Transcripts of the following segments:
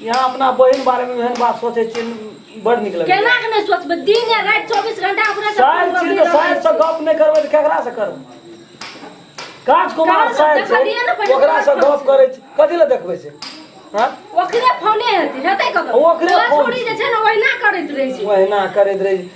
यहाँ अपना बहिन बारे में एहन बात सोचे छी बड़ निक लगे केना के नहीं सोचबे दिन या रात 24 घंटा अपने से साइड छी तो साइड से गप नहीं करबे तो केकरा से करब काज कुमार साइड से ओकरा से गप करे छी कथि ले देखबे से हां ओकरे फोने हेतै हेतै कब ओकरे फोन छोड़ी जे छै ना ओहिना करैत रहै छी ओहिना करैत रहै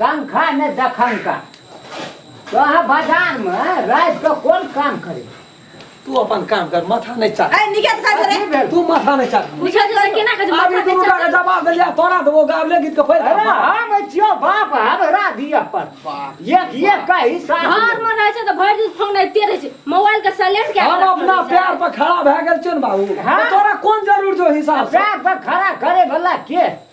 पंखा ने दखनका तो अहाँ बाजार में रात के कोन काम करे तू अपन काम कर माथा नहीं चाट ए निके त करे की भेल तू माथा नहीं चाट पूछा जे केना के जवाब अभी तू का जवाब दे लिया तोरा देबो गावले गीत के फैल अरे हम छियो बाप हमरा दिया पर एक एक का हिसाब घर में रहे छै त भरि दिन फोन एते रहे छै मोबाइल के साइलेंट के हम अपना प्यार पर खड़ा भए गेल छियन बाबू हाँ। तोरा कोन जरूर जो हिसाब से पैर पर खड़ा करे वाला के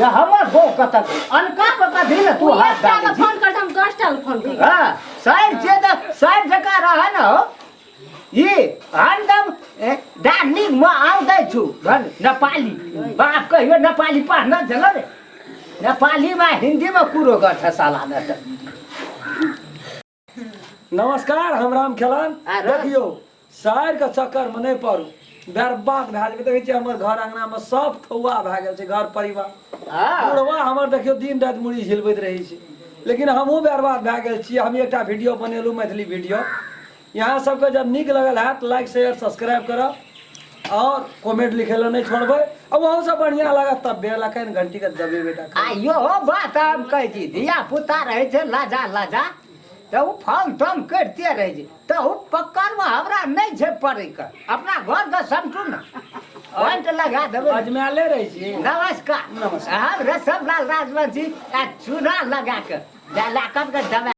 या हमर बो कतक अनका पर कथी ले तू हाथ डाले छी फोन कर हम 10 टा फोन कर हां साइड जे त साइड जका रहे न हो ई हरदम डार्लिंग म आउ दै छु भन नेपाली बाप कहियो नेपाली पढ़ना जल रे नेपाली में हिंदी में कुरो गठ साला न नमस्कार हम राम खेलान आ रस। देखियौ शहर के चक्कर में नहीं पड़ू बर्बाद भए जेबै देखै छियै हमर घर अंगना में सब थौआ भए गेल छै घर परिवार हाँ बुढ़वा हमर देखियौ दिन राति मुड़ी झिलबैत रहै छै लेकिन हमहूँ बर्बाद भए गेल छी हम एकटा वीडियो बनेलहुँ मैथिली वीडियो यहाँ सबके जब नीक लगल हैत लाइक शेयर सब्सक्राइब करब और कमेंट लिखे ला नहीं छोड़बे अब वहाँ से बढ़िया लगा तब बे लगा इन घंटी का दबे बेटा खा। आइयो हो बात हम कह दी धिया पुता रहे छे लाजा लाजा तो उ फल तम करते रहे जे तो उ पकड़ में हमरा नहीं छे पड़े के अपना घर के समटू ना पॉइंट लगा देबे अजमाले रहे छी नमस्कार नमस्कार। हम रसम लाल राजवंशी आ चूना लगा के जा लाकत के दबा